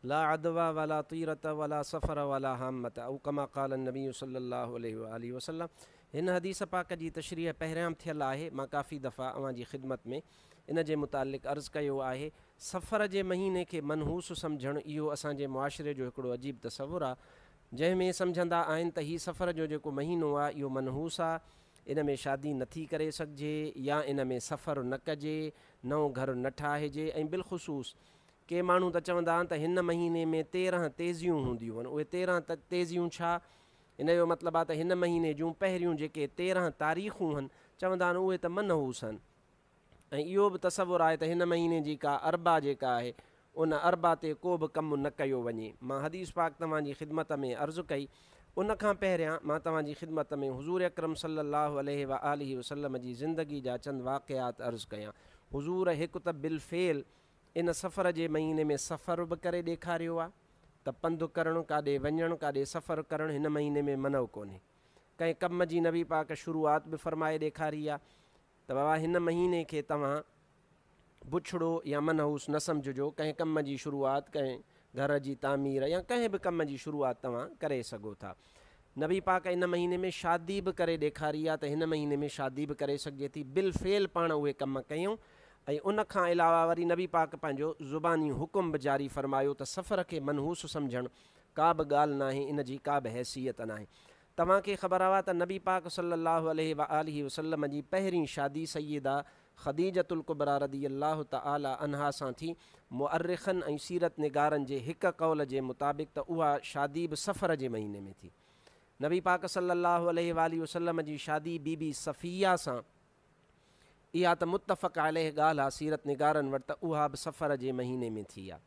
لا عدوي ولا طيرة ولا سفر ولا هامة او ڪما قال النبي صلّي الله عليه واٰله وسلّم هن حديث پاڪ جي تشريح پهريام ٿيل آهي مان ڪافي دفعا اوهان جي خدمت ۾ ان جي متعلق عرض ڪيو آهي سفر جي مهيني کي منحوس سمجهڻ اهو اسان جي معاشري جو هڪڙو عجيب تصور آ جنهن ۾ سمجهندا آهن ته هي سفر جو جيڪو مهينو آ اهو منحوس آ ان ۾ شادي نه ٿي ڪري سگهجي يا ان ۾ سفر نه ڪجي نئون گهر نه ٺاهجي ۽ بالخصوص ڪي ماڻهو ته چوندا آهن ته هن مهيني ۾ تيرهن تيزيون هونديون آهن. اهي تيرهن تيزيون ڇا؟ هن جو مطلب آهي ته هن مهيني جون پهريون جيڪي تيرهن تاريخون هن، چوندا آهن اهي ته منحوس آهن ۽ اهو به تصور آهي ته هن مهيني جي ڪا اربع جيڪا آهي ان اربع تي ڪو به ڪم نه ڪيو وڃي. مان حديث پاڪ توهان جي خدمت ۾ عرض ڪئي. ان کان پهريان مان توهان جي خدمت ۾ حضور اڪرم صلي الله عليه وآله وسلم جي زندگي جا چند واقعات عرض ڪيان. حضور هڪ ته بالفعل ان سفر جي مهيني ۾ سفر به ڪري ڏيکاريو آ ته پنڌ ڪرڻ ڪاڏي وڃڻ ڪاڏي سفر ڪرڻ هن مهيني ۾ منع ڪونهي ڪنهن ڪم جي نبي پاڪ شروعات به فرمائي ڏيکاري آ ته بابا هن مهيني کي توهان بڇڙو يا منحوس نه سمجهجو ڪنهن ڪم جي شروعات ڪنهن گهر جي تعمير يا ڪنهن به ڪم جي شروعات توهان ڪري سگهو ٿا. نبي پاڪ ان مهيني ۾ شادي به ڪري ڏيکاري آ ته هن مهيني ۾ شادي به ڪري سگهجي ٿي. بالفعل پاڻ اهي ڪم ڪيون ۽ ان کان علاوه وري نبي پاڪ پنهنجو زباني حڪم به جاري فرمايو ته سفر کي منحوس سمجهڻ ڪا به ڳالهه ناهي ان جي ڪا به حيثيت ناهي. توهان کي خبر آ ته نبي پاڪ صلّي اللّٰه عليه واٰله وسلّم جي پهرين شادي سيده خديجة الڪبريٰ رضي الله تعالٰي عنها سان ٿي، مؤرخن ۽ سيرت نگارن جي هڪ قول جي مطابق ته اها شادي به صفر جي مهيني ۾ ٿي. نبي پاڪ صلّي اللّٰه عليه واٰله وسلّم جي شادي بي بي صفيه سان اها ته متفق عليه ڳالهه آ سيرت نگارن وٽ ته اها به صفر جي مهيني ۾ ٿي آ.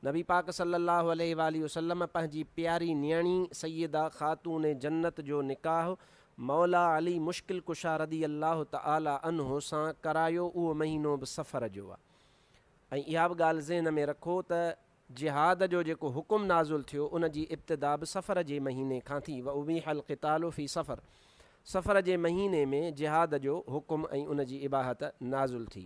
نبي پاڪ صلّي اللّٰه عليه واٰله وسلّم پنهنجي پياري نيڻي سيده خاتون جنّت جو نڪاح مولا علي مشڪل ڪشا رضي اللّٰه تعالٰي عنه سان ڪرايو اهو مهينو به صفر جو آ ۽ اها به ڳالهه ذهن ۾ رکو ته جهاد جو جيڪو حڪم نازل ٿيو ان جي ابتدا به صفر جي مهيني کان ٿي وابيح القتال في صفر صفر جي مهيني ۾ جهاد جو حڪم ۽ ان جي اباحت نازل ٿي.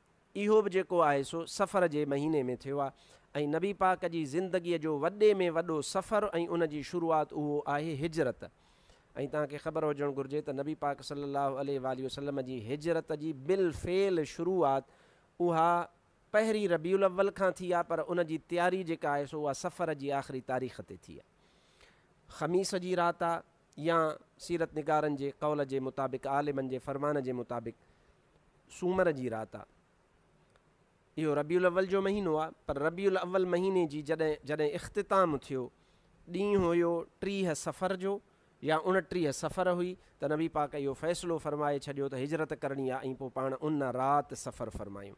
اهو به جيڪو آهي سو صفر جي مهيني ۾ ٿيو آهي ۽ نبي پاڪ جي زندگيء جو وڏي ۾ وڏو سفر ۽ ان جي شروعات اهو آهي هجرت ۽ توهان کي خبر هجڻ گهرجي ته نبي پاڪ صلي الله عليه واٰله وسلم جي هجرت جي بالفعل شروعات اها پهرين ربيع الاول کان ٿي آهي پر ان جي تياري جيڪا آهي سو اها صفر جي آخري تاريخ تي ٿي آهي خميس جي رات آهي يا سيرت نگارن جي قول جي مطابق عالمن جي فرمان جي مطابق سومر جي رات آ. اهو ربيع الاول جو مهينو آ، پر ربيع الاول مهيني جي جڏهن جڏهن اختتام ٿيو، ڏينهن هيو ٽيهه صفر جو يا اڻٽيهه صفر هئي ته نبي پاڪ اهو فيصلو فرمائي ڇڏيو ته هجرت ڪرڻي آ ۽ پوء پاڻ ان رات سفر فرمايون.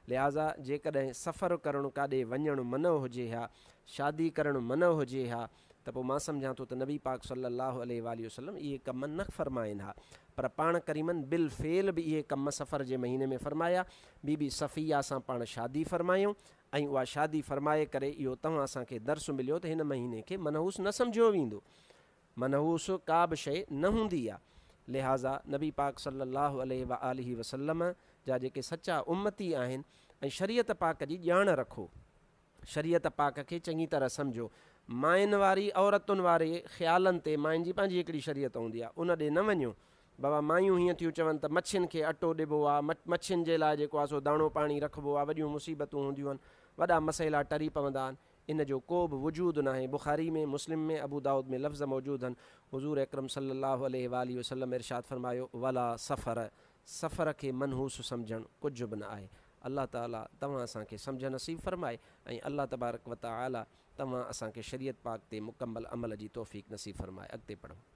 لهٰذا جيڪڏهن سفر ڪرڻ ڪاڏي وڃڻ منع هجي ها، شادي ڪرڻ منع هجي ها، ته پوء مان سمجهان ٿو ته نبي پاڪ صلّي اللّٰه عليه واٰله وسلّم اهي ڪم نه فرمائين ها پر پاڻ ڪريمن بالفعل به اهي ڪم صفر جي مهيني ۾ فرمايا، بي بي صفيه سان پاڻ شادي فرمايائون ۽ اها شادي فرمائي ڪري اهو توهان اسان کي درس مليو ته هن مهيني کي منحوس نه سمجهيو ويندو منحوس ڪا به شيء نه هوندي آهي لهٰذا نبي پاڪ صلّي اللّٰه عليه واٰله وسلّم جا جيڪي سچا امّتي آهن ۽ شريعت پاڪ جي ڄاڻ رکو شريعت پاڪ کي چڱي طرح سمجهو. ماين واري، عورتن واري، خيالن تي ماين جي پنهنجي هڪڙي شريعت هوندي آهي، ان ڏي نه وڃو. بابا مايون هيئن ٿيون چون ته مڇين کي اٽو ڏبو آهي، مڇين جي لاء جيڪو آهي سو داڻو پاڻي رکبو آهي، وڏيون مصيبتون هونديون آهن، وڏا مسئلا ٽري پوندا آهن، ان جو ڪو به وجود ناهي، بخاري ۾، مسلم ۾، ابودائود ۾ لفظ موجود هن، حضور اڪرم صلي الله عليه واٰله وسلم ارشاد فرمايو، ولا سفر، سفر کي منحوس سمجهڻ ڪجهه به نه آهي. الله تعالي توهان اسان کي سمجهه نصيب فرمائي ۽ الله تبارڪ وتعالي توهان اسان کي شريعت پاڪ تي مڪمل عمل جي توفيق نصيب فرمائي. اڳتي پڙهو.